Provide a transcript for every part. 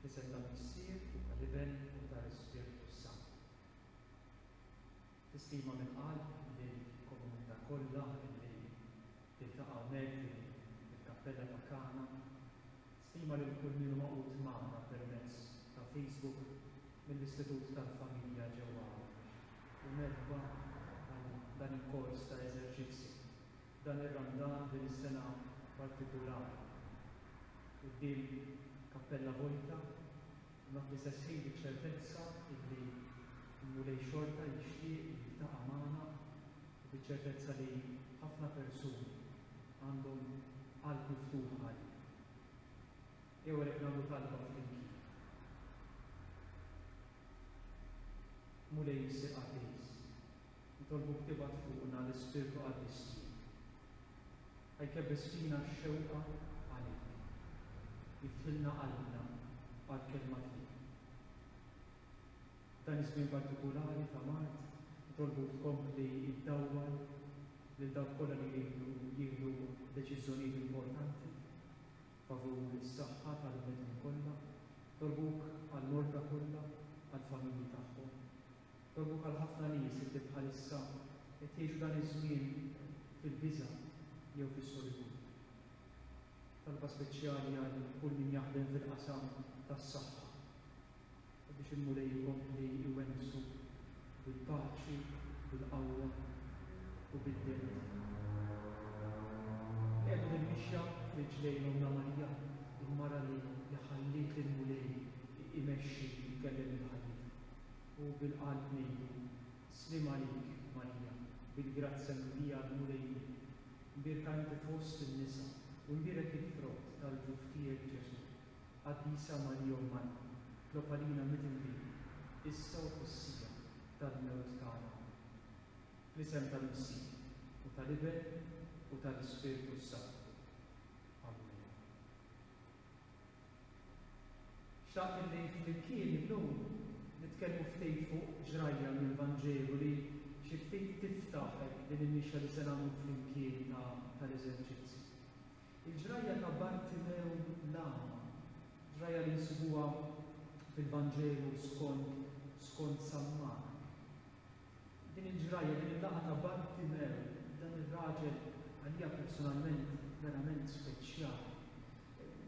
F'isem tal-Missier, u tal-Iben, u tal-Ispirtu s-Santu. Tistima mill-qalb lill-komunità kollha li tiltaqa' hawnhekk fil-kappella ta' Kana Stima lil kull min hu magħqud magħna permezz ta' Facebook mill-Istitut tal-Familja ġewwa Għawdex u merħba għal dan il-kors ta' eżerċizzju f'dan ir-Randan din is-sena partikulari. Quddiem kappella vojta, noti sesħin biċ-ċertezza illi l-Mulej xorta jixtieq li jiltaqa' magħna u biċ-ċertezza li ħafna persuni għandhom qalb miftuħa għalik. Jew għalhekk nagħmlu talba flimkien. Mulej Missir Qaddis, nitolbuk tibgħat fuqna l-Ispirtu Qaddis tiegħek. Ħajkebbes fina x-xewqa għalik. Jiftħilna qalbna għall-kelma tiegħek. F'dan iż-żmien partikulari ta' mard, nitolbu tkompli ddawwal lil dawk kollha li jridu jieħdu deċiżjonijiet importanti favur is-saħħa tal-bnedmin kollha. Nitolbuk għall-morda kollha, għall-familji tagħhom. Nitolbuk għal ħafna nies li bħalissa qed jgħixu dan iż-żmien fil-biża' jew fis-solitudni. Talba speċjali għal kull min jaħdem fil-qasam tas-saħħa, u biex il-Mulej ikompli jwensu bil-paċi, bil-qawwa u bil-wirt. Qiegħdu l-mixja f'riġlejn Ommna Marija, il-mara li ħalliet lill-Mulej imexxi u jkellem lil ħallitu, u bil-qalb ngħidu, Sliem għalik, Marija, bil-grazzja mimlija l-Mulej miegħek, mbierka inti fost in-nisa, u mbierek il-frott tal-ġuf tiegħek Ġesù. Qaddisa Marija Ummana, tlob għalina midinbin, issa u fis-siegħa tal-mewt tagħna. Amen. Fl-isem tal-Missija, u tal-Iben, u tal-Ispirtu s-Santu. Amen. Xtaqt illi flimkien illum nitkellmu ftit fuq ġrajja mill-Vanġelu li xi ftit tiftaħ din il-mixja li se nagħmlu flimkien ta' l-eżerċizzji. Il-ġrajja ta' Bartimew l-Agħma, ġrajja li nsibuha fil-Vanġelu skont skont San Mark. Din il-ġrajja, din il-laqgħa ta' Bartimew, dan ir-raġel għalija personalment verament speċjali.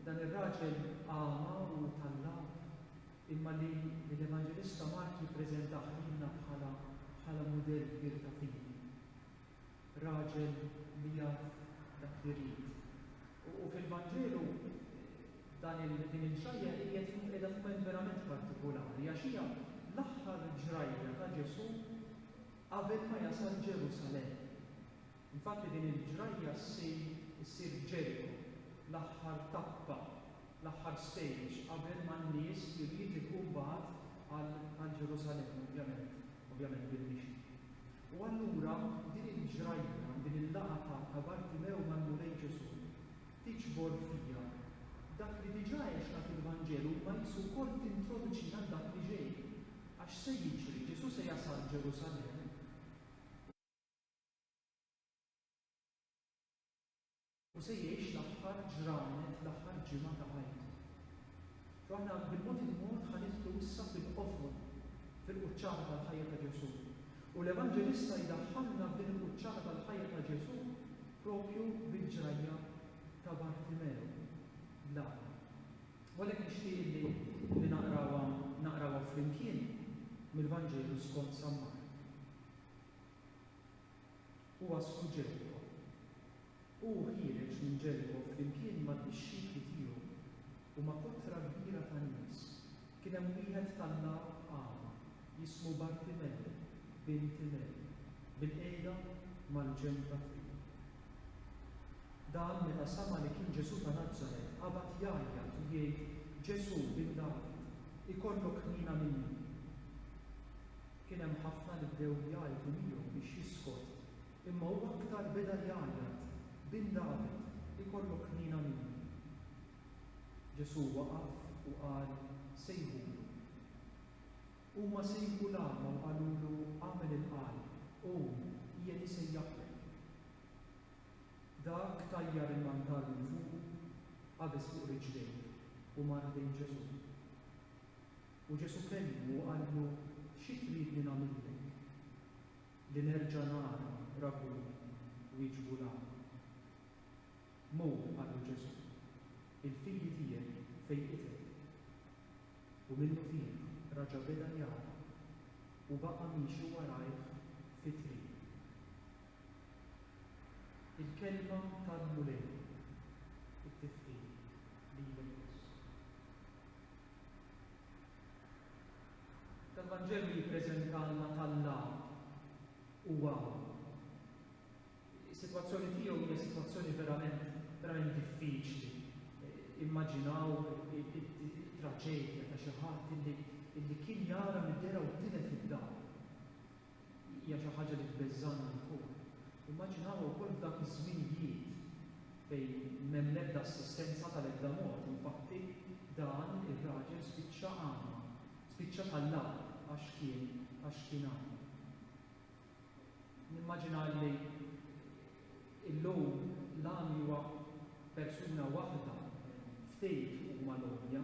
Dan ir-raġel agħma u tallab imma li li l-Evanġelista Mark jippreżentah lilna bħala bħala mudell kbir ta' fidi. raġel li jaf dak li jrid. U fil-Vanġelu dan il, din il-ġrajja qiegħed fu, qiegħda f'mument verament partikulari, għax hija l-aħħar ġrajja ta' Ġesù qabel ma jasal Ġerusalemm. Infatti din il-ġrajja ssir, issir Ġeriko, l-aħħar tappa, l-aħħar stage qabel ma n-nies jridu jilħqu mbagħad għal, għal Ġerusalemm, ovvjament, ovvjament bil-mixi. U allura din il-ġrajja, din il-laqgħa ta' ta' Bartimew mal-Mulej Ġesù tiġbor fija dak li diġà għexna fil-Vanġelu imma qisu wkoll tintroduċina għal dak li ġej. Għax x'se jiġri? Ġesù se jasal Ġerusalemm. U se jgħix l-aħħar ġranet, l-aħħar ġimgħa ta' ħajtu. U aħna bil-mod il-mod ħanidħlu issa fil-qofol, fil-quċċata tal-ħajja ta' Ġesù. U l-Evanġelista jdaħħalna f'din il-quċċata tal-ħajja ta' Ġesù propju bil-ġrajja ta' Bartimeo. La. Walek nixtieq li li naqrawa naqrawa flimkien mill-Vanġelu skont Sammar. u għassu Ġeriko. Hu ħiereġ minn Ġeriko flimkien mad-dixxipli tiegħu u ma' kotra kbira ta' nies, kien hemm wieħed tal-lagħab agħma jismu Bartimew, bin Timew, bilqiegħda mal-ġenb ta' triq. Dan meta sama' li kien Ġesù ta' Nazaret qabad jgħajjat u jgħid, Ġesù, bin David, ikollok ħniena minni! Kien hemm ħafna li bdew jgħajtu miegħu biex jiskot, imma hu aktar beda jgħajjat, Bin David, ikollok ħniena minni! Ġesù waqaf u qal, Sejħulu. Huma sejħu l-agħma u qalulu, Agħmel il-qal, qum, qiegħed isejjaħlek. Dak tajjar il-mantar minn fuqu, qabeż fuq riġlejh, u mar ħdejn Ġesù. U Ġesù kellmu u qallu, Xi tridni nagħmillek? Li nerġa' nara, Rabbuni? wieġbu l-agħma. Mur, qallu Ġesù, il-fidi tiegħek fejqitek. U minnufih raġa' beda jara u baqa' miexi warajh fit-triq. Il-Kelma tal-Mulej It-tifħir lilek biss. L-Evanġelju jippreżentalna t'Alla u hawn. Is-sitwazzjoni tiegħu hija sitwazzjoni verament verament diffiċli. Immaġinaw it-traġedja ta' xi ħadd illi kien jara mid-dehra u tilef id-dar. Hija xi ħaġa li tbeżżagħni wkoll. Immaġinawha wkoll f'dak iż-żminijiet fejn m'hemm l-ebda assistenza tal-ebda mod. Infatti, dan ir-raġel spiċċa għama. Spiċċa ta' l-agħar għax kien għax kien għama. Nimmaġina li llum l-għami huwa persuna waħda, ftit huma l-għomja.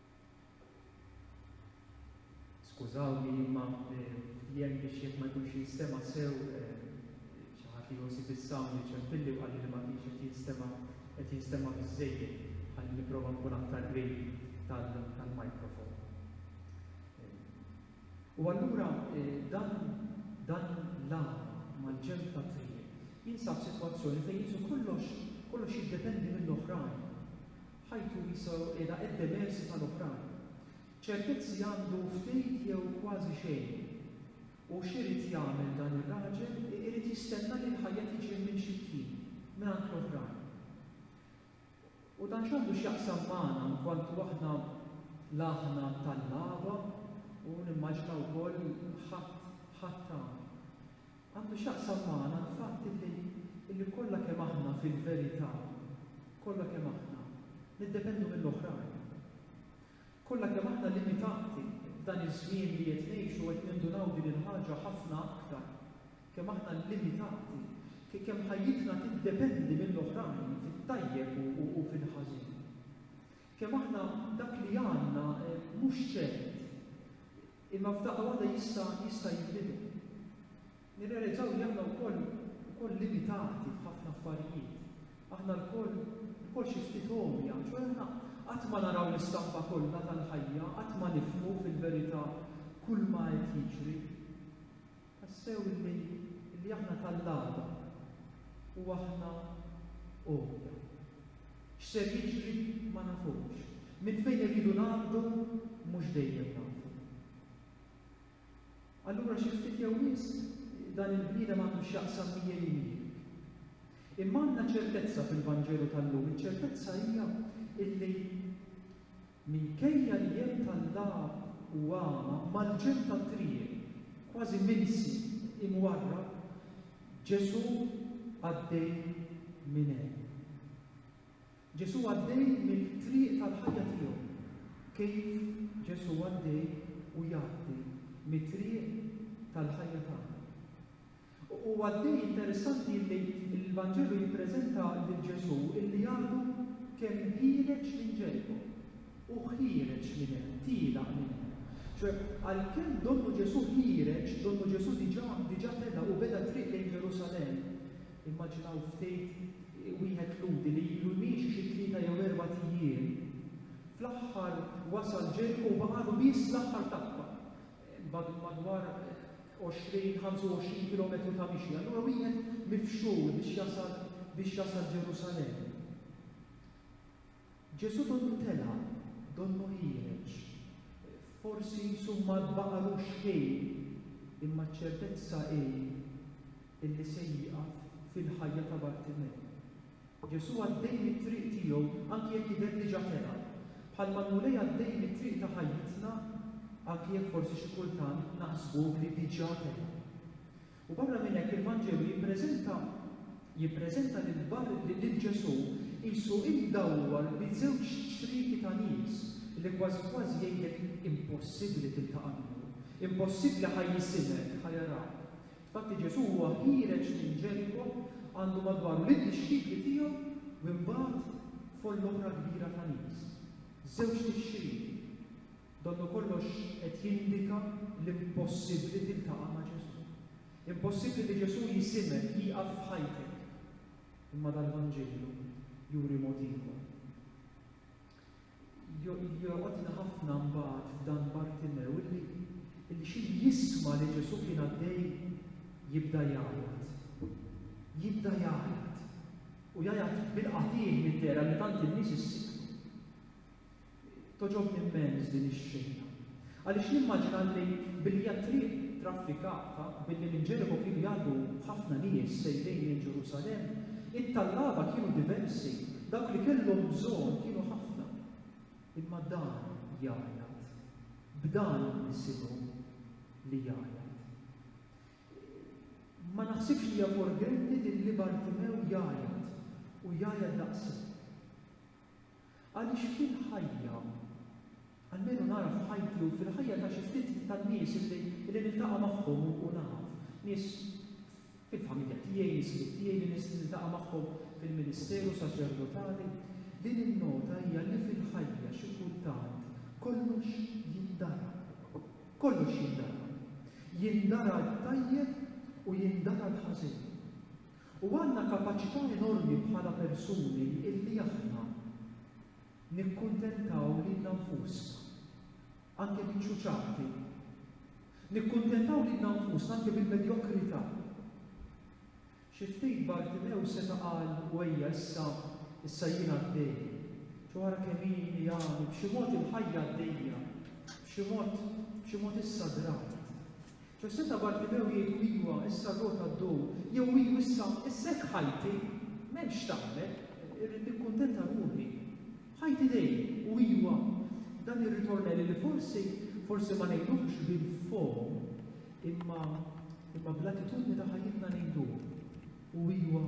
Skużawni imma ftiehem biex jekk ma jkunx jinstema' sew xi ħadd li josib is-sound iċempilli u qalli li ma kienx qed jinstema' qed jinstema' biżżejjed. Ħalli nipprova nkun aktar qrib tal-microphone. U allura dan dan l-għama mal-ġenb tat-triq jinsab f'sitwazzjoni fejn qisu kollox kollox jiddependi mill-oħrajn. ħajtu wiesgħu qiegħda id-demersi tal-oħrajn. Ċertezzi għandu ftit jew kważi xejn. U x'irid jagħmel dan ir-raġel, irid jistenna li l-ħajja tiġi mminxitji mingħand l-oħrajn. U dan x'għandu x'jaqsam magħna inkwantu aħna la aħna tal-lagħba u nimmaġina wkoll ħadd ħadd ta' Għandu x'jaqsam magħna l-fatt illi illi kollha kemm aħna fil-verità, kollha kemm aħna, niddependu mill-oħrajn. Kollha kemm aħna limitati f'dan iż-żmien li qed ngħixu qed nindunaw din il-ħaġa ħafna aktar, kemm aħna limitati, kemm ħajjitna tiddependi mill-oħrajn fit-tajjeb u fil-ħażin. Kemm aħna dak li għandna mhux ċert. Imma f'daqqa waħda jista' jista' jinbidel. Nirrealizzaw li aħna wkoll ukoll limitati f'ħafna affarijiet. Aħna lkoll lkoll xi ftit għomja, ċoe aħna qatt ma naraw l-istampa kollha tal-ħajja, qatt ma nifhmu fil-verità kull ma qed jiġri. Tassew illi illi aħna tal-għada u aħna għodu. X'ser jiġri ma nafux. Minn fejn irridu ngħaddu mhux dejjem nafu. Allura xi ftit jew wisq dan il-bniedem għandu x'jaqsam miegħi u miegħek. Imma għandna ċertezza fil-Vanġelu tal-lum, iċ-ċertezza hija illi Minkejja li hemm tallab u għama mal-ġenb tat-triq, kważi minsi, imwarrab, Ġesù għaddej minn hemm. Ġesù għaddej mill-triq tal-ħajja tiegħu, kif Ġesù għaddej u jgħaddi mit-triq tal-ħajja tagħna. Huwa dej interessanti illi l-Vanġelu jippreżenta lil Ġesù illi għadu kemm ħiereġ minn Ġeriko. Hu ħiereġ minn hemm, tielaq minn hemm. Ċoè, għalkemm donnu Ġesù ħiereġ, donnu Ġesù diġà, diġà tela' u beda t-triq lejn Ġerusalemm. Immaġinaw ftejt wieħed Lhudi li ilu miexi xi tlieta jew erbat ijiem, fl-aħħar wasal Ġeriko u baqagħlu biss l-aħħar tappa. madwar 20, 25 kilometru ta' mixi. Allura wieħed mifxul biex jasal biex jasal Ġerusalemm. Ġesu donnu tela, donnu ħiereġ. Forsi summa baqalu xħin, imma ċertezza hi illi se jieqaf fil-ħajja ta' Bartimej. Ġesù għaddej mit-triq tiegħu anki jekk jidher diġà telaq, bħalma l-Mulej għaddej mit-triq ta' ħajjitna anki jekk forsi xi kultant naħsbuh li diġà telaq. U barra minn hekk il-Vanġelu jippreżenta jippreżenta lil Bar lil Ġesù qisu imdawwar bi żewġ ċrieki ta' nies li kważi kważi jgħidlek impossibbli tiltaqa' miegħu, impossibbli ħa jisimek, ħa jarak. Fatti Ġesù huwa ħiereġ minn Ġeriko għandu madwaru lid-dixxipli tiegħu u imbagħad followra kbira ta' nies. Żewġ tixrid. Donnukollox qed jindika l-impossibbli tiltaqa' ma' Ġesù. Impossibbli li Ġesù jisimek, jieqaf f'ħajtek. Imma dal-Vanġilju juri mod ieħor. Jolqotni ħafna mbagħad f'dan Bartimew illi illi xi jisma' li Ġesù kien għaddej jibda jgħajjat. Jibda jgħajjat. U jgħajjat bil-qatih middera li tant in-nies issibtu. Toġobni immens din ix-xena. Għaliex nimmaġina li billi hija triq traffikata, billi minn Ġeriko kienu jgħaddu ħafna nies sejrin lejn Ġerusalemm, it-tallaba kienu diversi, dawk li kellhom bżonn kienu ħafna. Imma dan jgħajjat. B'dan nisimgħu li jgħajjat. Ma naħsibx li hija forgenti li lli Bartimew jgħajjat, u jgħajjat daqshekk. Għaliex fil-ħajja, almenu nara f'ħajti u fil-ħajja ta' xi ftit tan-nies li niltaqa' magħhom u naf, nies fil-familja tiegħi, nies ħbieb tiegħi li niltaqa' magħhom fil-ministeru saċerdotali, li ninnota hija li fil-ħajja xi kultant kollox jindara. Kollox jindara. Jindara t-tajjeb u jindara l-ħażin. U għandna kapaċità enormi bħala persuni illi aħna nikkuntentaw lilna nfusna anke biċ-ċuċati, nikkuntentaw lilna nfusna anke bil-medjokrità. Xi ftit Bartimew seta' qal, u ejja issa, issa jien għaddej. Ġo ara kemm hi għami, b'xi mod il-ħajja għaddejja, b'xi mod, b'xi mod issa drajt, Ġo seta' Bartimew jgħidlu, Iwa, issa r-rota ddur, jew ilu issa, issa hekk ħajti, m'hemmx x'tagħmel, irrid nikkuntenta ruħi. Ħajti dejn, u iwa, dan ir-ritornelli li forsi, forsi ma ngħiduhx bil-fom, imma, imma bl-attitudni ta' ħajjitna ngħiduh, u iwa,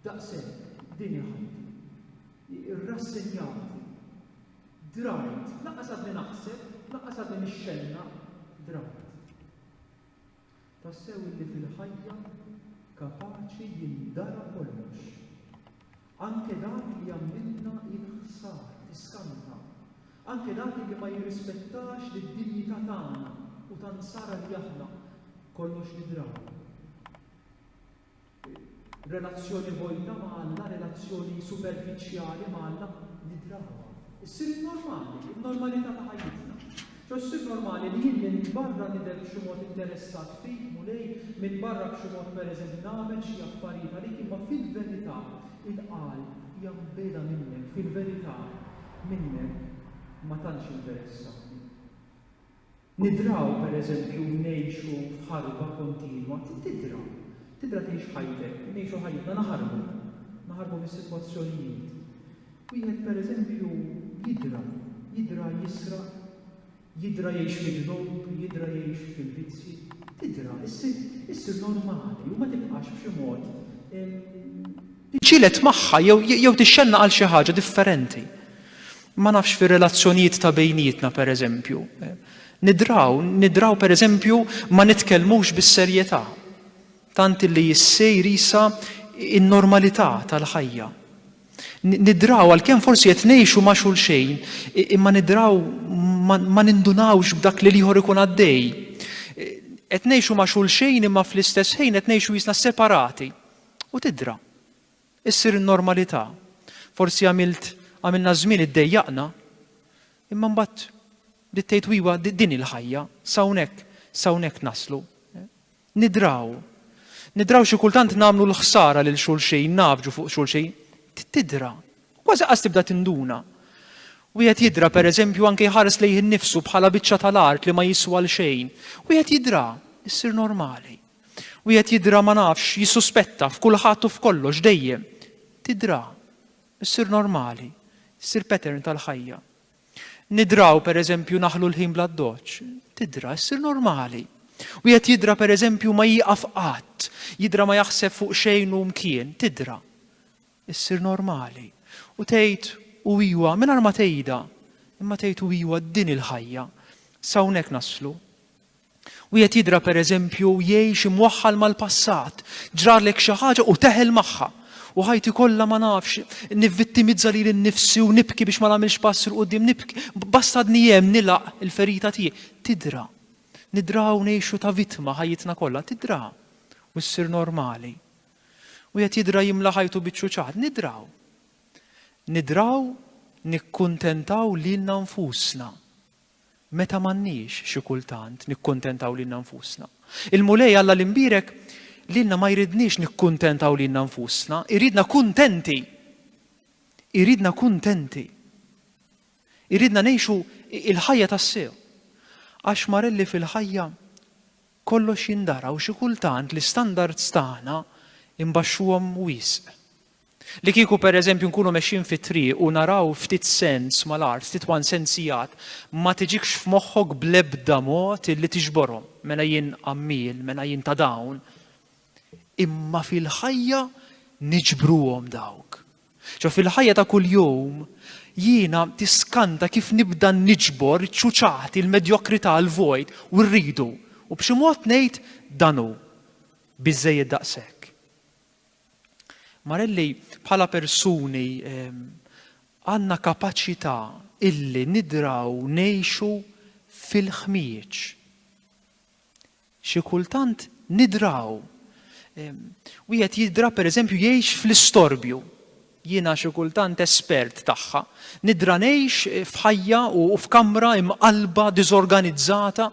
daqshekk, din hi ħajti. Irrassenjati. Drajt, lanqas għadni naħseb, lanqas għadni nixxennaq, drajt. Tassew illi fil-ħajja kapaċi jindara kollox. Anke dak li jagħmilna il-ħsar, tiskanta. Anke dak li ma jirrispettax lid-dinjità tagħna u ta' nsara li aħna kollox nidraw. Relazzjoni vojta ma' Alla, relazzjoni superfiċjali ma' Alla, li drawa. Issir in-normali, in-normalità ta' ħajjitna. Ġo ssir normali li jien minn barra nidher b'xi mod interessat fik, Mulej, minn barra b'xi mod pereżempju nagħmel xi affarijiet għalik, imma fil-verità il-qalb hija mbiegħda minnek, fil-verità minnek ma tantx interessatni. Nidraw, per eżempju, ngħixu f'ħarba kontinwa. Tidra. Tidra tgħix ħajtek. Ngħixu ħajjitna naħarbu. Naħarbu mis-sitwazzjonijiet. Wieħed, per eżempju, jidra. Jidra jisraq. Jidra jgħix fid-dnub. Jidra jgħix fil-vizzji. Tidra. Issir normali u ma tibqax b'xi mod Iġġieled magħha jew jew tixxennaq għal xi ħaġa differenti. Ma nafx fir-relazzjonijiet ta' bejnietna pereżempju. Nidraw, nidraw pereżempju ma nitkellmux bis-serjetà. Tant illi issir isa in-normalità tal-ħajja. Nidraw għalkemm forsi qed ngħixu ma' xulxejn, imma nidraw ma nindunawx b'dak li l-ieħor ikun għaddej. Qed ngħixu ma' xulxejn imma fl-istess ħin qed ngħixu jisna separati. U tidra. Issir in-normalità. Forsi għamilt għamilna żmien iddejjaqna, imma mbagħad bdiet tgħid iwa din hi l-ħajja, s'hawnhekk s'hawnhekk naslu. Nidraw. Nidraw xi kultant nagħmlu l-ħsara lil xulxin, nagħfġu fuq xulxin. Tidra. Kważi qas tibda tinduna. Wieħed jidra pereżempju anke jħares lejh innifsu bħala biċċa tal-art li ma jiswa l xejn. Wieħed jidra, issir normali. Wieħed jidra ma nafx, jissuspetta f'kulħadd u f'kollox dejjem. Tidra. Issir normali. Issir pattern tal-ħajja. Nidraw pereżempju naħlu l-ħin bl-addoċċ. Tidra, issir normali. Wieħed jidra pereżempju ma jieqaf qatt, jidra ma jaħseb fuq xejn u mkien. Tidra. Issir normali. U tgħid u iwa mingħajr ma tgħidha, imma tgħid u iwa din il-ħajja. S'hawnhekk naslu. Wieħed jidra pereżempju jgħix imwaħħal mal-passat, ġralek xi ħaġa u teħel magħha. U ħajti kollha ma nafx, nivvittimizza lili nnifsi u nibki biex ma nagħmilx pass il quddiem nibki, basta għadni hemm nilaq il-ferita tiegħi. Tidra. Nidraw ngħixu ta' vittma ħajjitna kollha, tidra. U ssir normali. Wieħed jidra jimla ħajtu biċ-ċuċat, nidraw. Nidraw nikkuntentaw lilna nfusna. Meta m'għandniex, xi kultant, nikkuntentaw lilna nfusna. Il-Mulej Alla li mbierek lilna ma jridniex nikkuntentaw lilna nfusna, iridna kuntenti. Iridna kuntenti. Iridna ngħixu il-ħajja tassew. Għax marelli fil-ħajja kollox jindara u xi kultant l-istandards tagħna imbaxxuhom wisq. Li kieku pereżempju nkunu mexjin fit-triq u naraw ftit sens mal-art, ftit one sens sigħat, ma tiġikx f'moħħok bl-ebda mod illi tiġborhom. Mela jien għammiel, mela jien ta' dawn. Imma fil-ħajja niġbruhom dawk. Ġo fil-ħajja ta' kuljum jiena tiskanta kif nibda niġbor iċ-ċuċati, il-medjokrità, l-vojt u rridu. U b'xi mod ngħid dan hu. Biżżejjed daqshekk. Marelli, bħala persuni għandna kapaċità illi nidraw ngħixu fil-ħmieġ. Xi kultant nidraw. Wieħed jidra pereżempju jgħix fl-istorbju. Jiena xi kultant espert tagħha. Nidra ngħix f'ħajja u f'kamra imqallba, diżorganizzata,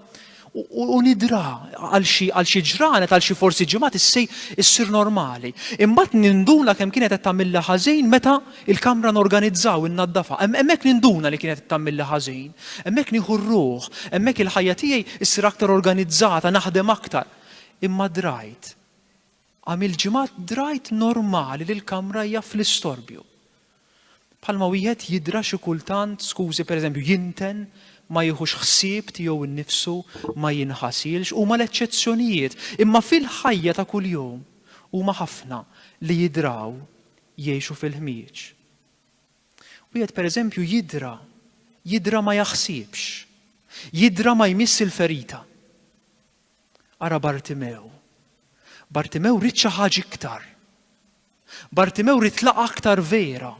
u nidra għal xi għal xi ġranet, għal xi forsi ġimgħat issej issir normali. Imbagħad ninduna kemm kienet qed tagħmilha ħażin meta il-kamra norganizzaw innaddafa. Hemmhekk ninduna li kienet qed tagħmilha ħażin. Hemmhekk nieħu r-ruħ, hemmhekk il-ħajja tiegħi ssir aktar organizzata, naħdem aktar. Imma drajt Għam il-ġimgħat drajt normali li l-kamra hija fl-istorbju. Bħalma wieħed jidra xi kultant, skużi, pereżempju, jinten, ma jieħux ħsieb tiegħu nnifsu, ma jinħasilx, huma l-eċċezzjonijiet, imma fil-ħajja ta' kuljum huma ħafna li jidraw jgħixu fil-ħmieġ. Wieħed pereżempju jidra, jidra ma jaħsibx, jidra ma jmiss il-ferita. Ara Bartimew. Bartimew ried xi ħaġa iktar. Bartimew ried laqa aktar vera.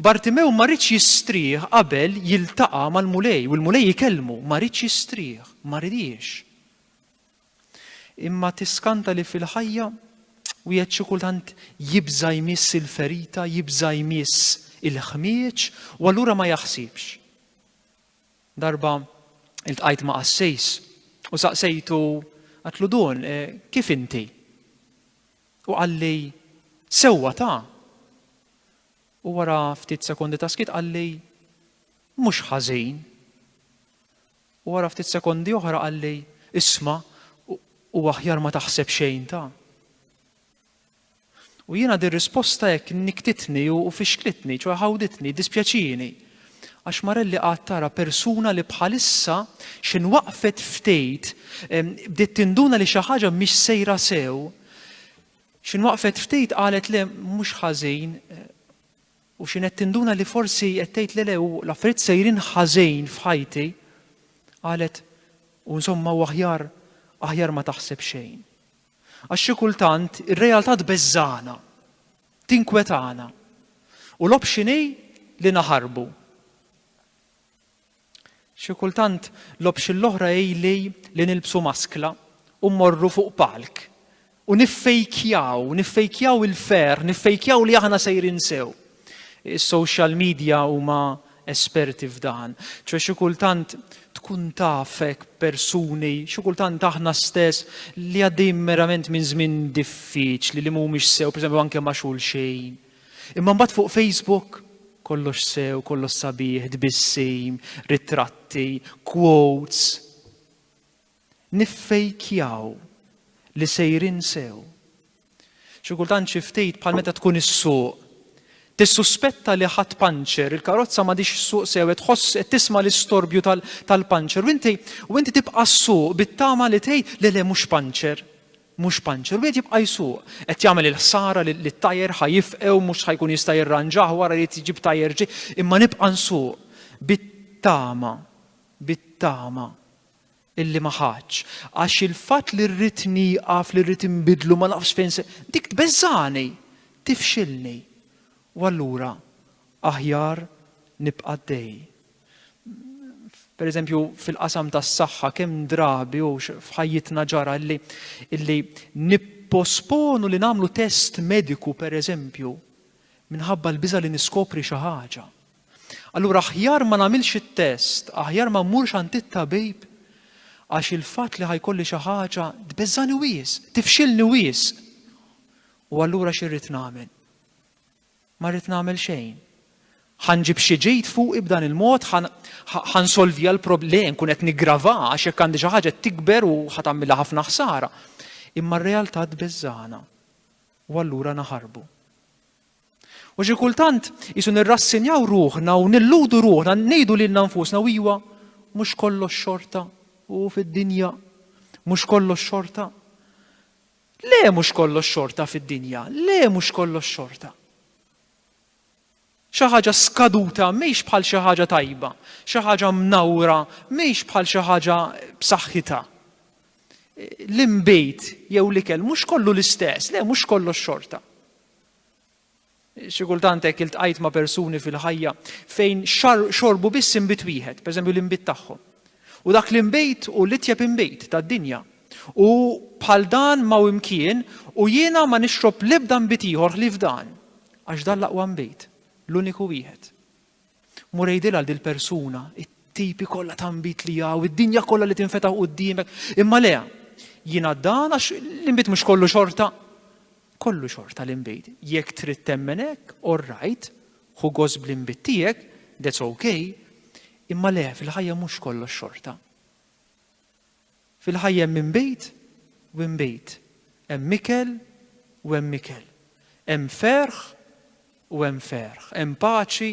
Bartimew ma riedx jistrieħ qabel jiltaqa' mal-Mulej u l-Mulej jikellmu, ma riedx jistrieħ, ma ridiex. Imma tiskanta li fil-ħajja wieħed xi kultant jibża' jmiss il-ferita, jibża' jmiss il-ħmieġ u allura ma jaħsibx. Darba iltqajt ma' qassis u saqsejtu għatlu dun e, kif inti? U qalli sewwa ta' u wara ftit sekondi ta' skit qalli mhux ħażin. U wara ftit sekondi oħra qalli isma' u aħjar ma taħseb xejn ta' U jiena di risposta hekk niktitni u fixklitni, ċoħe ħawditni, dispjaċini. Għax Marelli qagħad tara persuna li bħalissa xejn waqfet ftejt, bdiet tinduna li xi ħaġa mhix sejra sew. Xejn waqfet ftejt qalet le mhux ħażin eh, u xejn qed tinduna li forsi qed tgħid le le u l-affarijiet sejrin ħażin f'ħajti. Qalet u insomma u aħjar aħjar ma taħseb xejn. Għax xi kultant ir-realtà tbeżżagħna, tinkwetana, u l-option hi li naħarbu. Xi kultant l-option l-oħra hi li nilbsu maskla u mmorru fuq palk u niffejkjaw, niffejkjaw il-ferħ, niffejkjaw li aħna sejrin sew. Is-social media huma esperti f'dan, ċoe xi kultant tkun taf hekk persuni, xi kultant aħna stess li għaddejjin merament minn żmien diffiċli li mhumiex sew, pereżempju anke ma' xulxejn. Imma mbagħad fuq Facebook kollox sew, kollox sabiħ, tbissim, ritratti, quotes. niffejkjaw li sejrin sew. Xi kultant xi ftit bħal meta tkun issuq, tissuspetta li ħadd panċer, il-karozza m'għadix issuq sew, qed tħoss qed tisma' l-istorbju tal-panċer u inti u inti tibqa' ssuq bit-tama li tgħid le le mhux panċer, mhux panċer, u wieħed jibqa' jsuq, qed jagħmel il-ħsara li t-tajer ħa jifqew mhux ħa jkun jista' jirranġah wara li jġib tajer ġej, imma nibqa' nsuq bit-tama, bit-tama illi ma ħadtx, għax il-fatt li rrid nieqaf, li rrid inbidlu ma nafx fejn se, dik tbeżżagħni, tifxilni. U allura aħjar nibqa' għaddej. Pereżempju fil-qasam tas-saħħa kemm drabi u f'ħajjitna ġara illi illi nipposponu li nagħmlu test mediku pereżempju minħabba l-biża' li niskopri xi ħaġa. Allura aħjar ma nagħmilx it-test, aħjar ma mmurx għand it-tabib għax il-fatt li ħajkolli xi ħaġa tbeżżani wies, tifxilni wies. U allura xi rrid nagħmel? Ma rrid nagħmel xejn. Ħanġib xi ġejt fuq ib'dan il-mod, ħansolvi għal problem kun qed niggrava għax jekk għandi xi ħaġa tikber u ħatamilha ħafna ħsara. Imma r-realtà tbeżżana. U allura naħarbu. U xi kultant isu nirrassinjaw ruħna u nilludu ruħna, ngħidu lil nfusna u iwa mhux kollox xorta u fid-dinja mhux kollox xorta. Le mhux kollox xorta fid-dinja, le mhux kollox xorta. Xi ħaġa skaduta mhix bħal xi ħaġa tajba, xi ħaġa mnawra mhix bħal xi ħaġa b'saħħitha. L-imbejt jew l-ikel mhux kollu l-istess, le mhux kollox xorta. Xi kultant hekk iltqajt ma' persuni fil-ħajja fejn xorbu biss inbid wieħed, pereżempju l-inbid tagħhom. U dak l-inbid hu l-itjeb inbid tad-dinja. U bħal dan ma' hu imkien u jiena ma nixrob l-ebda nbid ieħor ħlief dan, għax dan l-aqwa nbid, l-uniku wieħed. Mur għidilha għal dil-persuna, it-tipi kollha ta' nbit li hawn, id-dinja kollha li tinfetaħ quddiemek. Imma le, jiena dan għax l-inbit mhux kollu xorta. Kollu xorta l-inbit. Jekk trid temmen hekk, all right, ħu gost bl-inbit tiegħek, that's okay, imma le, fil-ħajja mhux kollox xorta. Fil-ħajja hemm inbid u inbid, hemm ikel u hemm ikel, hemm ferħ u hemm ferħ, hemm paċi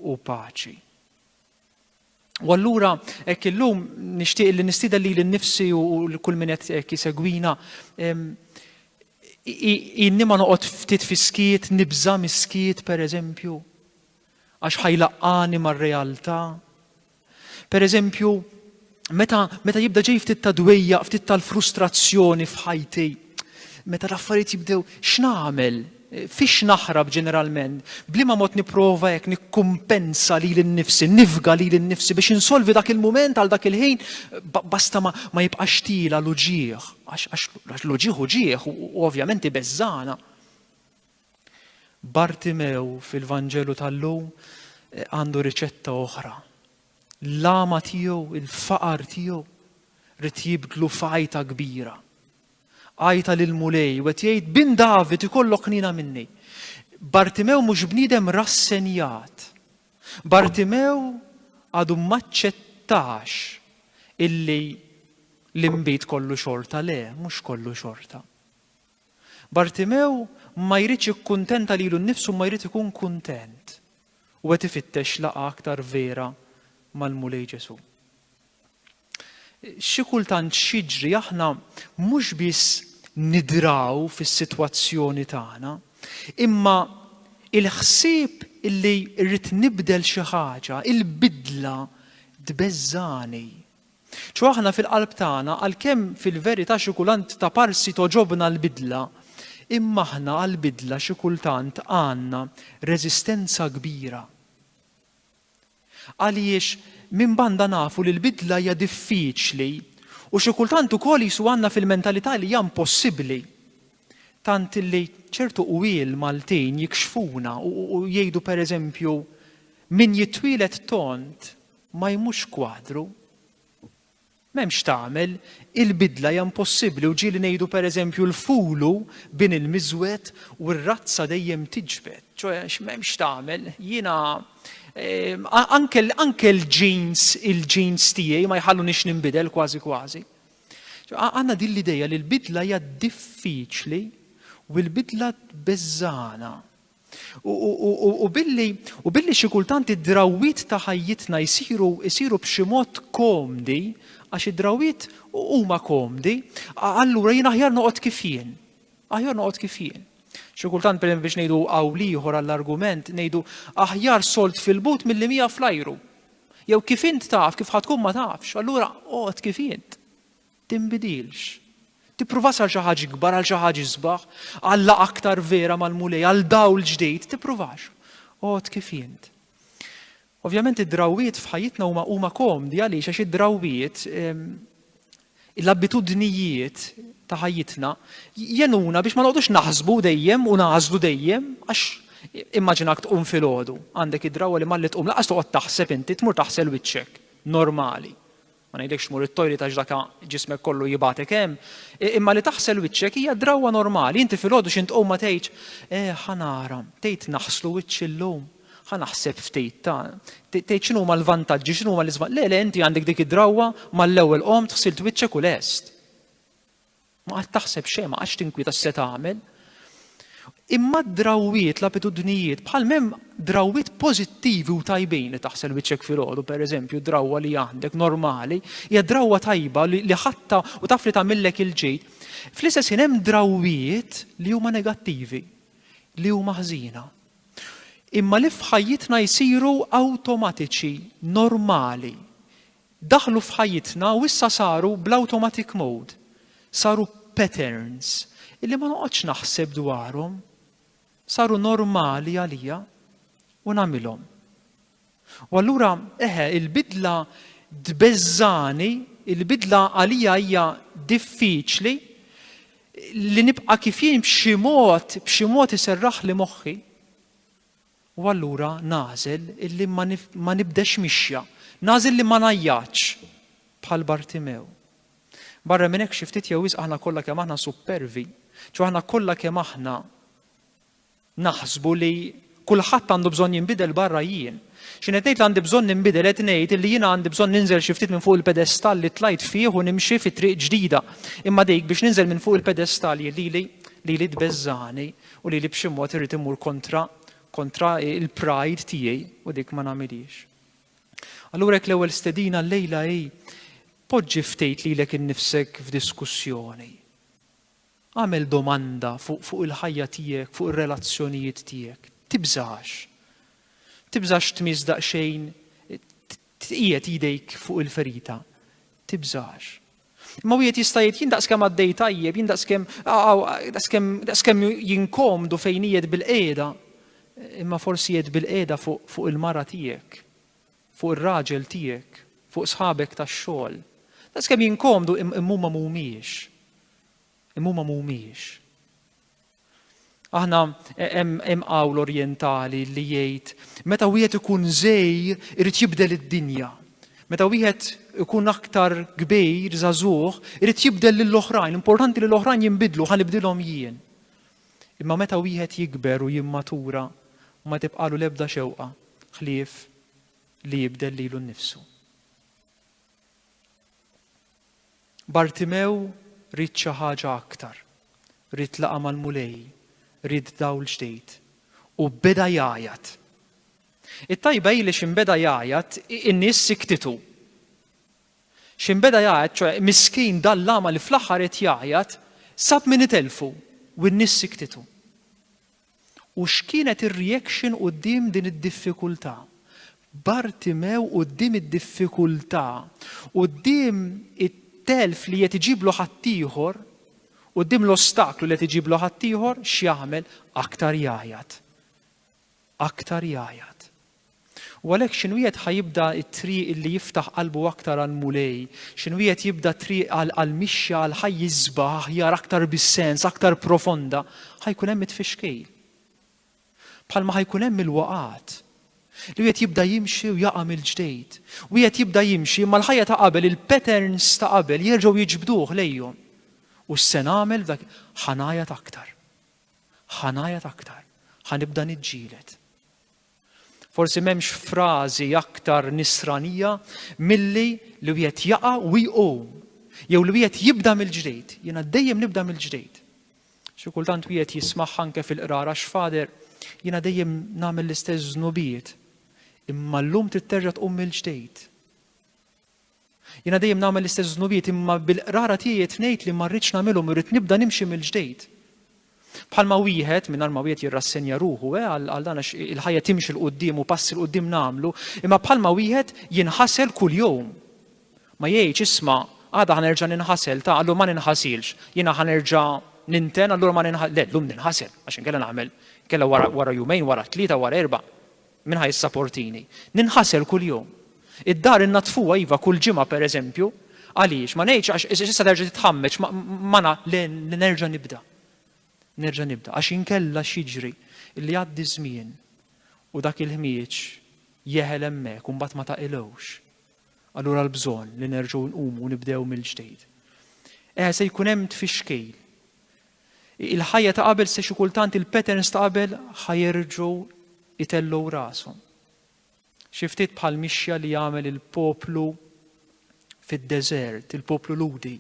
u paċi. U allura hekk illum nixtieq li nistieden lili nnifsi u l kull min qed jisegwina inni ma noqgħod ftit fiskiet, nibża' miskiet pereżempju. għax ħajlaqqani mar-realtà. Per eżempju, meta, meta jibda ġej ftit ta' dwejja, ftit tal-frustrazzjoni f'ħajti, meta l-affarijiet jibdew x'nagħmel, fiex naħrab ġeneralment, bliema mod nipprova hekk nikkumpensa li l-nifsi, nifga li l-nifsi biex insolvi dak il-mument għal dak il-ħin basta ma, ma jibqax tila l-uġieħ, għax l-uġieħ uġieħ u ovvjament ibeżżana. Bartimew fil-Vanġelu tal-lum eh, għandu riċetta oħra. L-lama tiegħu, il-faqar tiegħu, rrit jibdlu fajta kbira. Għajta lil mulej u qed jgħid bin David ikollok nina minni. Bartimew mhux bniedem rassenjat. Bartimew għadu maċċettax illi l-imbit kollu xorta le, mhux kollu xorta. Bartimew ma jridx jikkuntenta lilu nnifsu imma jrid ikun kuntent u qed ifittex laqgħa aktar vera mal-Mulej Ġesù. Xi kultant x'jiġri aħna mhux biss nidraw fis-sitwazzjoni tagħna, imma il-ħsieb illi rrid nibdel xi ħaġa, il-bidla tbeżżagħni Ċoe aħna fil-qalb tagħna, għalkemm fil-verità xi kulant ta' parsi togħġobna l-bidla, imma aħna għall-bidla xi kultant għandna reżistenza kbira. Għaliex minn banda nafu li l-bidla hija diffiċli u xi kultant ukoll qisu għandna fil-mentalità li hija impossibbli. Tant li ċertu qwiel Maltin jikxfuna u jgħidu pereżempju min jitwieled tond Ma jmurx kwadru. M'hemm x'tagħmel, il-bidla hija impossibbli u ġieli ngħidu pereżempju l-fulu bin il-miżwed u r-razza dejjem tiġbed, ċoe m'hemm x'tagħmel, jiena anke anke l-genes il-genes tiegħi ma jħalluniex ninbidel kważi kważi. Għandna din l-idea li l-bidla hija diffiċli u l-bidla tbeżżagħna. U billi u billi xi kultant id-drawwiet ta' ħajjitna jsiru jsiru b'xi mod komdi, għax id-drawwiet huma komdi, allura jien aħjar noqgħod kif jien. Aħjar noqgħod kif jien. Xi kultant per biex ngħidu qawl ieħor għall-argument ngħidu aħjar solt fil-but milli mija fl-ajru. Jew kif int taf, kif ħatkun ma tafx, allura oqgħod kif int. Tinbidilx. Tippruvas għal xi ħaġa ikbar, għal xi ħaġa isbaħ, għal laqgħa aktar vera mal-Mulej, għal dawl ġdid, tippruvax. Għod kif jint. Ovvjament id-drawwiet f'ħajjitna huma huma komdi għaliex għax id-drawwiet ehm, l-abitudnijiet ta' ħajjitna jenuna biex ma noqgħodux naħsbu dejjem u nażlu dejjem għax immaġinak tqum filgħodu għandek id-drawwa li malli tqum laqas toqgħod taħseb inti tmur taħsel wiċċek normali. ma ngħidlekx tmur it-toilet għax dak ġismek kollu jibgħatek hemm, imma li taħsel wiċċek hija drawwa normali, inti filgħodu xi tqum ma tgħidx, eh ħa nara, tgħid naħslu wiċċi llum, ħa naħseb ftit ta' tgħid x'inhuma l-vantaġġi, x'inhuma l-iżma. Le, le, inti għandek dik id-drawwa mal-ewwel qomt ħsilt wiċċek u lest. Ma għad taħseb xejn, ma għadx tinkwieta x'se tagħmel. Imma d-drawwiet, l-abitudnijiet, bħal mem drawwiet pożittivi u tajbin li taħsel wiċċek filgħodu, pereżempju, drawwa li għandek normali, hija drawwa tajba li ħatta u taf li tagħmillek il-ġid. Fl-istess ħin hemm drawwiet li huma negattivi, li huma ħżina. Imma li f'ħajjitna jsiru awtomatiċi, normali, Daħlu f'ħajjitna u issa saru bl-automatic mode. Saru patterns illi ma noqgħodx naħseb dwarhom. Saru normali għalija u nagħmilhom. U allura, eħe, il-bidla tbeżżani, il-bidla għalija hija diffiċli, li nibqa' kif jien b'xi mod, b'xi mod iserraħli moħħi. U allura nagħżel illi ma nibdex mixja. Nagħżel li ma ngħajjatx bħal Bartimew. Barra minn hekk xi ftit jew wisq aħna kollha kemm aħna suppervi, ċo aħna kollha kemm aħna naħsbu li kulħadd għandu bżonn jinbidel barra jien. Xi qed ngħid li għandi bżonn ninbidel qed ngħid li jiena għandi bżonn ninżel xi ftit minn fuq il-pedestall li tlajt fih u nimxi fi triq ġdida. Imma dik biex ninżel minn fuq il-pedestall lili lili tbeżżani u li li b'xi mod irrid immur kontra kontra il-pride tiegħi u dik ma nagħmilhiex. Allura jekk l-ewwel stedina llejla hi poġġi ftejt lilek innifsek f'diskussjoni. Għamel domanda fuq fu il-ħajja tiegħek, fuq ir-relazzjonijiet tiegħek. Tibżax. Tibżax tmiss daqsxejn tqiegħed idejk fuq il-ferita. Tibżax. Imma wieħed jista' jgħid jien daqskemm għaddej tajjeb, jien daqskemm daqskemm daqskemm jinkomdu fejn qiegħed bil-qiegħda. Imma forsi qiegħed bil-qiegħda fuq fuq il-mara tiegħek, fuq ir-raġel tiegħek, fuq sħabek tax-xogħol. Daqskemm jinkomdu imma huma mhumiex. Imma huma mhumiex. Aħna hemm qawl orjentali li jgħid meta wieħed ikun żej irid jibdel id-dinja. Meta wieħed ikun aktar kbir, żagħżugħ, irid jibdel lill oħrajn importanti li l-oħrajn jinbidlu, ħa nibdilhom jien. Imma meta wieħed jikber u jimmatura, ma tibqalu l-ebda xewqa ħlief li jibdel lilu nnifsu. Bartimew ried xi ħaġa aktar. Ried laqgħa mal-Mulej, ried dawl ġdid, u beda jgħajjat. It-tajba hi li xi beda jgħajjat in-nies siktitu. Xi beda jgħajjat, ċoe miskin dal-lama li fl-aħħar qed jgħajjat, sab min itelfu u n-nies siktitu. U x'kienet ir-reaction quddiem din id-diffikultà? Bartimew quddiem id-diffikultà, quddiem it-telf li qed iġiblu ħaddieħor, quddiem l-ostaklu li qed iġiblu ħaddieħor, x'jagħmel? Aktar jgħajjat. Aktar jgħajjat. U għalhekk x'inwiegħed ħa jibda t-triq illi jiftaħ qalbu aktar għall-Mulej? X'inwiegħed jibda t-triq għall-mixja għal ħajja isbaħ, aħjar, aktar bis-sens, aktar profonda? Ħa jkun hemm it-tfixkil. Bħalma ħa jkun hemm il-waqgħat. Li wieħed jibda jimxi u jaqa' mill-ġdejt. Wieħed jibda jimxi imma l-ħajja ta' qabel, il-patterns ta' qabel jerġgħu jiġbduh lejhom. U x'se nagħmel dak ħa ngħajat aktar. Ħa ngħajat aktar. Ħa nibda niġġieled. Forsi m'hemmx frażi aktar nisranija milli li wieħed jaqa' u jqum jew li wieħed jibda mill-ġdid. Jiena dejjem nibda mill-ġdid. Xi kultant wieħed jismagħha anke fil-qrara x'fader jiena dejjem nagħmel l-istess żnubiet. Imma llum titterġa' tqum mill-ġdid. Jiena dejjem nagħmel l-istess żnubiet imma bil-qrara tiegħi qed ngħid li ma rridx nagħmilhom irrid nibda nimxi mill-ġdeid. Bħalma wieħed, mingħajr ma wieħed jirrassenja ruħu eh, għal dan għax il-ħajja timxi 'l quddiem u passi 'l quddiem nagħmlu, imma bħalma wieħed jinħasel kuljum. Ma jgħidx isma' għada ħa nerġa' ninħasel ta' allura ma ninħasilx, jiena ħa nerġa' ninten allura ma ninħasel. Le, llum ninħasel għax inkella nagħmel kella wara jumejn, wara tlieta, wara erba'. Min ħa jissaportini? Ninħasel kuljum. Id-dar innaddfuha iva kull ġimgħa pereżempju, għaliex? Ma ngħidx għax issa terġa' titħammeġ ma na le nerġa' nibda. Nerġa' nibda għax inkella x'jiġri li jgħaddi żmien u dak il-ħmieġ jeħel hemmhekk u mbagħad ma taqilgħux. Allura l-bżonn li nerġgħu nqumu u nibdew mill-ġdid. Eh se jkun hemm tfixkil. Il-ħajja ta' qabel se xi kultant il-patterns ta' qabel ħa jerġgħu jtellgħu rashom. Xi ftit bħal mixja li jagħmel il-poplu fid-deżert, il-poplu Lhudi.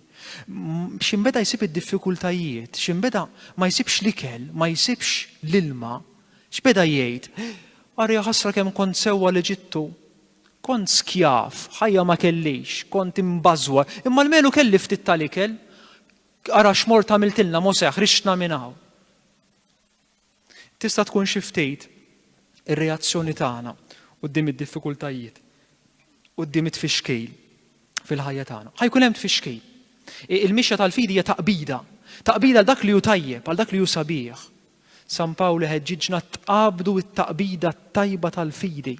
X'imbeda jsib id-diffikultajiet, x'imbeda ma jsibx l-ikel, ma jsibx l-ilma, x'beda jgħid, Arja ħasra kemm kont sewwa l-Eġittu, kont skjaf, ħajja ma kellix, kont imbażwa, imma l-melu kelli ftit tal-ikel, Ara x'mort għamiltilna Mosè, ħriġtna minn hawn. Tista' tkun xi ftit ir-reazzjoni tagħna quddiem id-diffikultajiet, quddiem it-tfixkil fil-ħajja tagħna. Ħajkun hemm tfixkil. Il-mixja tal-fidi hija taqbida, taqbida għal dak li hu tajjeb, għal dak li hu sabiħ. San Pawl ħeġġiġna tqabdu it-taqbida tajba tal-fidi.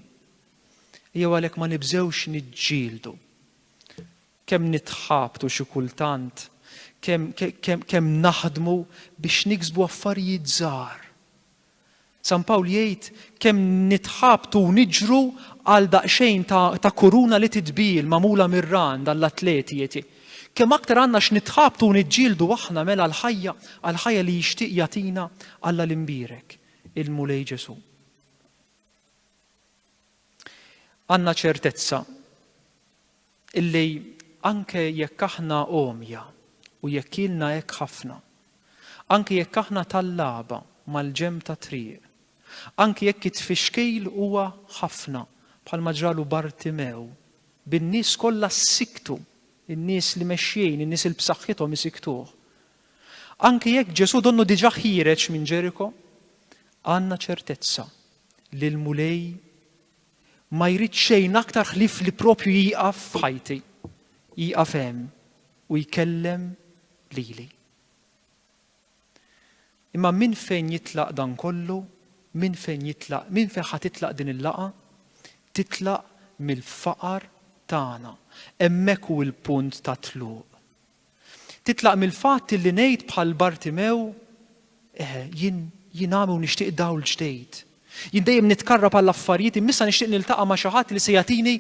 Jew għalhekk ma nibżewx niġġieldu. Kemm nitħabtu xi kultant, kemm, kemm, kemm naħdmu biex niksbu affarijiet żgħar. San Pawl jgħid, kemm nitħabtu u niġru għal daqsxejn ta', ta' kuruna li titbiegħ magħmula mir-ran għall-atleti, eti. Kemm aktar għandna x'nitħabtu u niġġieldu aħna mela għall-ħajja, għall-ħajja li jixtieq jagħtina Alla l-Imbierek, il-Mulej Ġesù. Għandna ċertezza Illi anke jekk aħna għomja u jekk ilna hekk ħafna, anke jekk aħna tallaba mal-ġenb tat-triq, anke jekk it-tfixkil huwa ħafna bħalma ġralu Bartimew, bin-nies kollha ssiktu, in-nies li mexjin, in-nies il b'saħħithom isiktuh. Anke jekk Ġesù donnu diġà ħiereġ minn Ġeriko, għandna ċertezza li l-Mulej Ma jrid xejn aktar ħlief li proprju jieqaf f'ħajti, jieqaf hemm u jkellem lili. Imma minn fejn jitlaq dan kollu, minn fejn jitlaq, minn fejn ħa titlaq din il-laqa, titlaq mill-faqar tagħna. Hemmhekk hu l-punt ta' tluq. Titlaq mill-fatt illi ngħid bħal Bartimew, Eħe, jien, jien għami u nixtieq dawl ġdejt. Jien dejjem nitkarrab għal affarijiet imma issa nixtieq niltaqa' ma' xi ħadd li se jagħtini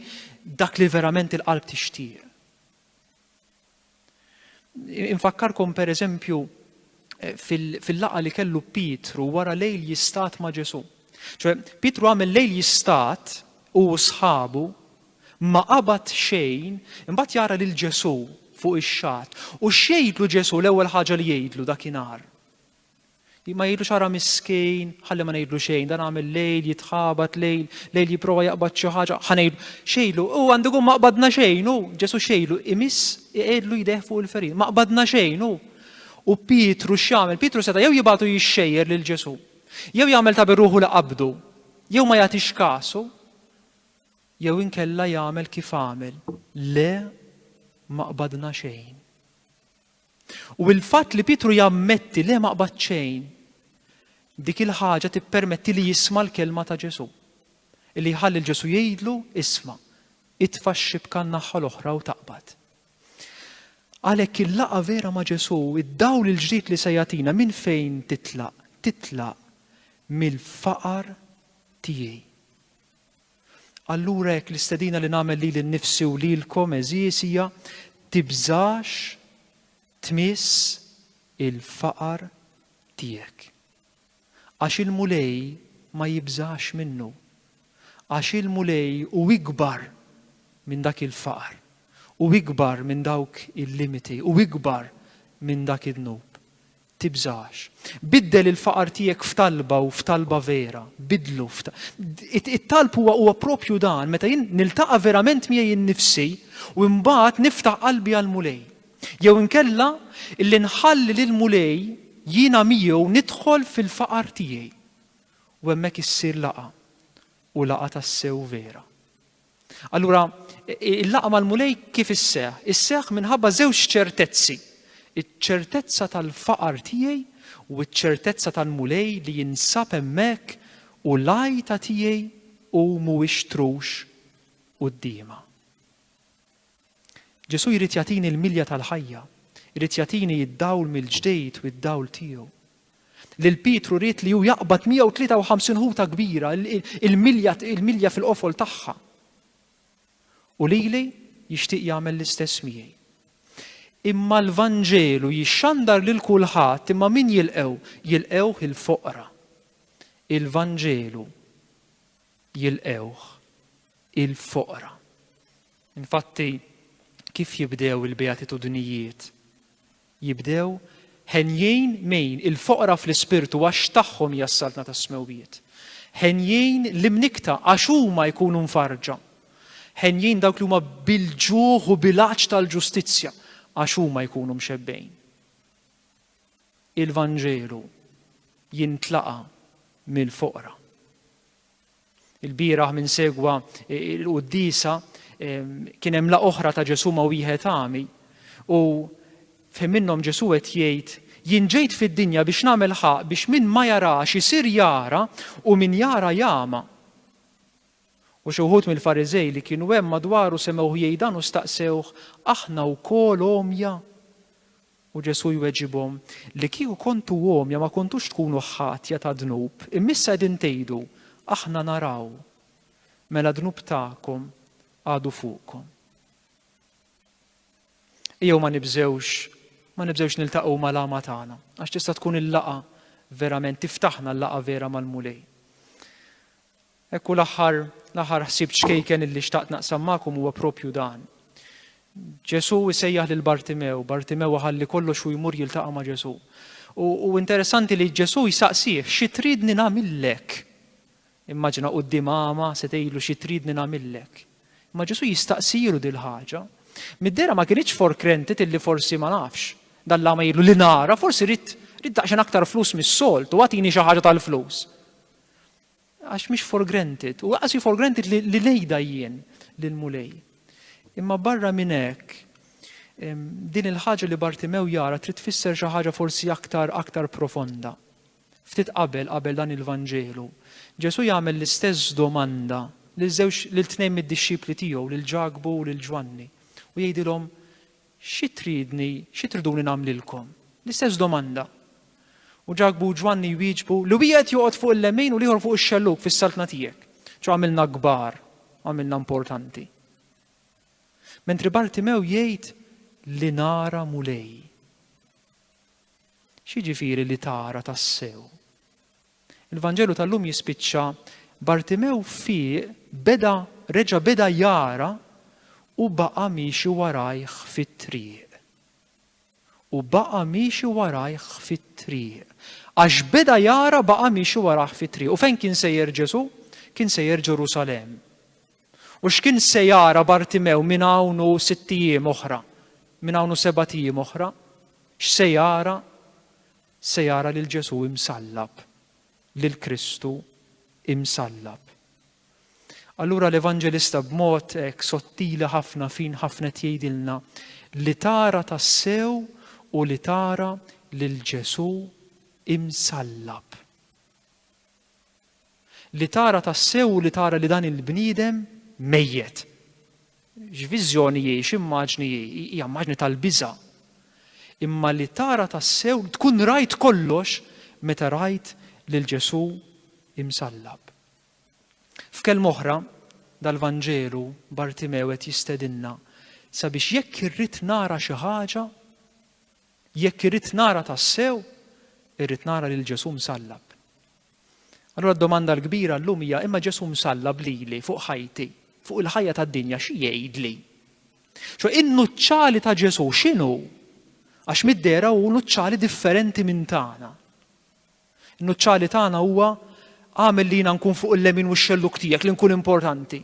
dak li verament il-qalb tixtieq. Infakkarkom pereżempju fil-laqgħa li kellu Pietru wara lejl jistat ma' Ġesù. Ċoe, Pietru għamel lejl jistat u sħabu ma qabad xejn, imbagħad jara lil Ġesù fuq ix-xatt. U x'jgħidlu Ġesù l-ewwel ħaġa li jgħidlu dakinhar? Ma jgħidlu xara miskin, ħalli ma ngħidlu xejn, dan għamel lejl, jitħabat lejl, lejl jipprova jaqbad xi ħaġa, ħanejlu, xejlu, u għandu ma qbadna xejn, u Ġesù xejlu, imiss iqedlu jdeh fuq il-ferin, ma qbadna xejn, u U Pietru x'jagħmel? Pietru seta' jew jibgħatu jixxejjer lil Ġesù, jew jagħmel ta' birruħu li qabdu, jew ma jagħtix kasu, jew inkella jagħmel kif għamel, le ma qbadna xejn. U il-fatt li Pietru jammetti le ma qbad xejn, dik il-ħaġa tippermetti li jisma' l-kelma ta' Ġesù. Li jħalli l-Ġesù jgħidlu isma' itfa' x-xibka n-naħħa l-oħra u taqbad. Għalhekk il-laqgħa vera ma' Ġesù, id-dawl il-ġdid li se jagħtina minn fejn titlaq? Titlaq mill-faqar tiegħi. Allura hekk l-istedina li nagħmel lili nnifsi u lilkom għeżież hija tibżax tmiss il-faqar tiegħek. Għax il-Mulej ma jibżax minnu. Għax il-Mulej hu ikbar minn dak il-faqar, hu ikbar minn dawk il-limiti, hu ikbar minn dak id-dnub. Tibżax. Biddel il-faqar tiegħek f'talba u f'talba vera. Biddlu It-talb huwa huwa propju dan meta jien niltaqa' verament miegħi nnifsi u mbagħad niftaħ qalbi għall-Mulej. Jew inkella illi nħalli lill-Mulej jiena miegħu nidħol fil-faqar tiegħi u hemmhekk issir laqgħa, u laqgħa tassew vera. Allura, il-laqgħa mal-Mulej kif isseħħ? Isseħħ minħabba żewġ ċertezzi. Iċ-ċertezza tal-faqar tiegħi u ċ-ċertezza tal-Mulej li jinsab hemmhekk u l-għajta tiegħi hu mhuwiex trux quddiemha. Ġesù jrid jagħtini l-milja tal-ħajja, irid jagħtini d-dawl mill-ġdid u d-dawl tiegħu. Lil Pietru ried li hu jaqbad 153 ħuta kbira, il-milja fil-qofol tagħha. U lili jixtieq jagħmel l-istess miegħi. Imma l-Vanġelu jixxandar lil kulħadd imma min jilqew? Jilqewh il-foqra. Il-Vanġelu jilqewh il-foqra. Infatti, kif jibdew il-Beatitudnijiet? Jibdew, Henjin min il-foqra fl-ispirtu għax tagħhom hija s-saltna tas-smewwiet. Henjin l-imnikkta għax huma jkunu mfarrġa. Henjin dawk li huma bil-ġuħ u bil-għatx tal-ġustizzja għax huma jkunu mxebbejn. Il-Vanġelu jintlaqa' mill-foqra. Il-bieraħ minn segwa l-quddisa kien hemm la oħra ta' Ġesù ma' wieħed għami u fejn minnhom Ġesù qed jgħid jien ġejt fid-dinja biex nagħmel ħaq biex min ma jarax isir jara u min jara jama. U xi wħud mill-Fariżej li kienu hemm madwaru semgħuh jgħidan u staqsewh aħna wkoll omja. U Ġesù jweġibhom, Li kieku kontu għomja ma kontux tkunu ħatja ta' dnub, imma issa qegħdin tgħidu, 'Aħna naraw. Mela d-dnub tagħkom għadu fuqkom. Ejjew ma nibżgħux ma nibżgħux niltaqgħu mal-għama tagħna, għax tista' tkun il-laqgħa verament tiftaħna l-laqgħa vera mal-Mulej. Hekk u l-aħħar l-aħħar ħsieb ċkejken illi xtaqt naqsam magħkom huwa propju dan. Ġesù jsejjaħ lil Bartimew, Bartimew ħalli kollox u jmur jiltaqa' ma' Ġesù. U, u interessanti li Ġesù jsaqsih xi tridni nagħmillek. Immaġina quddiem għama se tgħidlu xi tridni nagħmillek. Imma Ġesù jistaqsilu dil ħaġa. Middera ma kienx forkrentit illi forsi ma nafx. Dalla ma jgħidlu li nara, forsi rrid rrid daqsxejn aktar flus mis-solt u għatini xi ħaġa tal-flus. Għax mhix for granted, u għasi for granted li, li nejda jien lill-Mulej. Imma barra minn hekk, din il-ħaġa li Bartimew jara trid tfisser xi ħaġa forsi aktar aktar profonda. Ftit qabel qabel dan il-Vanġelu, Ġesù jagħmel l-istess domanda lil żewġ lil tnejn mid-dixxipli tiegħu, lil Ġakbu u lil Ġwanni, u jgħidilhom Xi tridni, xi triduni nagħmlilkom? L-istess domanda. U Ġakbu u Ġwanni jwieġbu, Li wieħed joqgħod fuq il-lemin u l-ieħor fuq ix-xellug fis-saltna tiegħek. Ġo għamilna kbar, għamilna importanti. Mentri Bartimew jgħid li nara Mulej. X'jiġifieri li tara tassew? Il-Vanġelu tal-lum jispiċċa, Bartimew fieq, beda, reġa' beda jara u baqa' miexi warajh fit-triq. U baqa' miexi warajh fit-triq. Għax beda jara baqa' miexi warajh fit-triq. U fejn kien sejjer Ġesù? Kien sejjer Ġerusalemm. U x'kien se jara Bartimew minn hawn u sitt ijiem oħra? Minn hawn u sebat ijiem oħra? X'se jara? se jara lil Ġesù imsallab, lil Kristu imsallab. Allura l-Evanġelista b'mod hekk sottili ħafna fin ħafna qed jgħidilna li tara tassew u li tara lil Ġesù imsallab. Li tara tassew u li tara li dan il-bniedem mejjet. X'viżjoni hi, x'immaġni hi? Hija immaġni tal-biża'. Imma li tara tassew, tkun rajt kollox meta rajt lil Ġesù imsallab. F'kelma oħra, dal-Vanġelu Bartimew qed jistedinna sabiex jekk irrid nara xi ħaġa, Jekk irrid nara tassew, irrid nara lil Ġesù msallab. Allura d-domanda l-kbira llum hija imma Ġesù msallab lili fuq ħajti, fuq il-ħajja tad-dinja xi jgħidli? Xo in-nuċċali ta' Ġesù x'inhu? Għax mid-dera hu nuċċali differenti minn tagħna. In-nuċċali tagħna huwa għamel li jiena nkun fuq il-lemin u x-xelluk tiegħek li nkun importanti.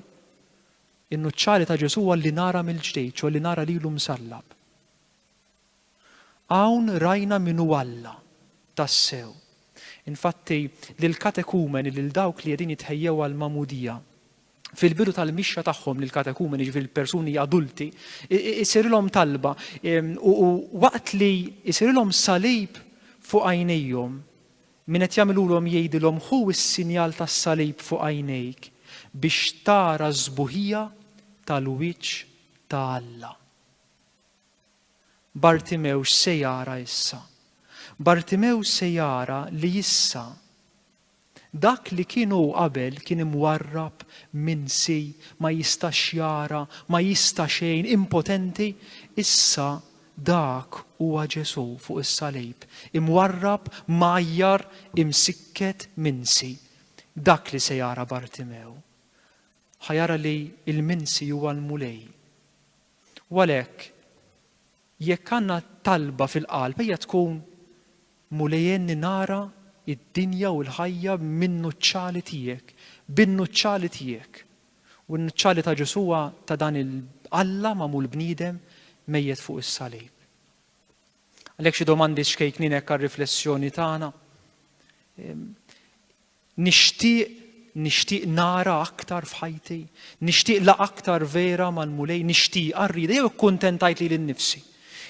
In-nuċċali ta' Ġesù huwa li nara mill-ġdejt, xo li nara lilu msallab. Hawn rajna min hu Alla tassew. Infatti, lill-katekumeni, lil dawk li qegħdin jitħejjew għall-magħmudija, fil-bidu tal-mixja tagħhom lill-katekumeni, jiġifieri l-persuni adulti, isirilhom talba u waqt li isirilhom salib fuq għajnejhom, min qed jagħmilulhom jgħidilhom ħu s-sinjal tas-salib fuq għajnejk biex tara s-sbuħija tal-wiċċ ta' Alla. Bartimew x'se jara issa? Bartimew se jara li issa dak li kien hu qabel kien imwarrab, minsi, ma jistax jara, ma jista' xejn, impotenti, issa dak huwa Ġesù fuq is-salib, imwarrab, mgħajjar, imsikket, minsi. Dak li se jara Bartimew. Ħa jara li l-minsi huwa l-Mulej. U għalhekk, jekk għandna talba fil-qalb, ejja tkun, Mulej għenni nara d-dinja u l-ħajja min-nuċċali tiegħek, bin-nuċċali tiegħek. U n-nuċċali ta' Ġesù huwa ta' dan il-Alla magħmul bniedem mejjet fuq is-salib. Għalhekk xi domandi xkejknin hekk għar-riflessjoni tagħna. Ehm, Nixtieq, nixtieq nara aktar f'ħajti, nixtieq laqgħa aktar vera mal-Mulej, nixtieqha, rridha, jew ikkuntentajt lili nnifsi?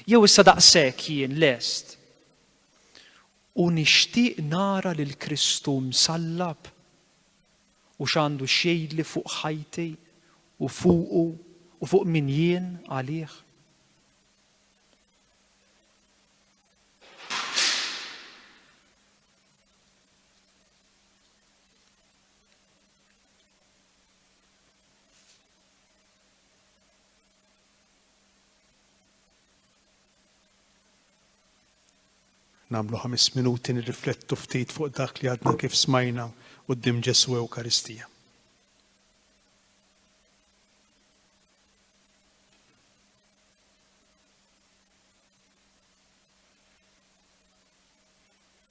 Jew issa daqshekk jien lest? U nixtieq nara lil Kristu msallab u x'għandu x'jgħidli fuq ħajti u fuqu u fuq min jien għalih? Namlu ħames minuti nirriflettu ftit fuq dak li għadna kif smajna u d-dim Ġesu Ewkaristija.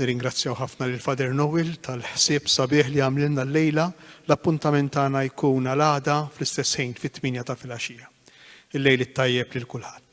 Nirringrazzjaw ħafna lil Father Noel tal-ħsieb sabiħ li għamlilna llejla. L-appuntament tagħna jkun għal għada fl-istess ħin fit-tmienja ta' filgħaxija. Il-lejl it-tajjeb lil kulħadd.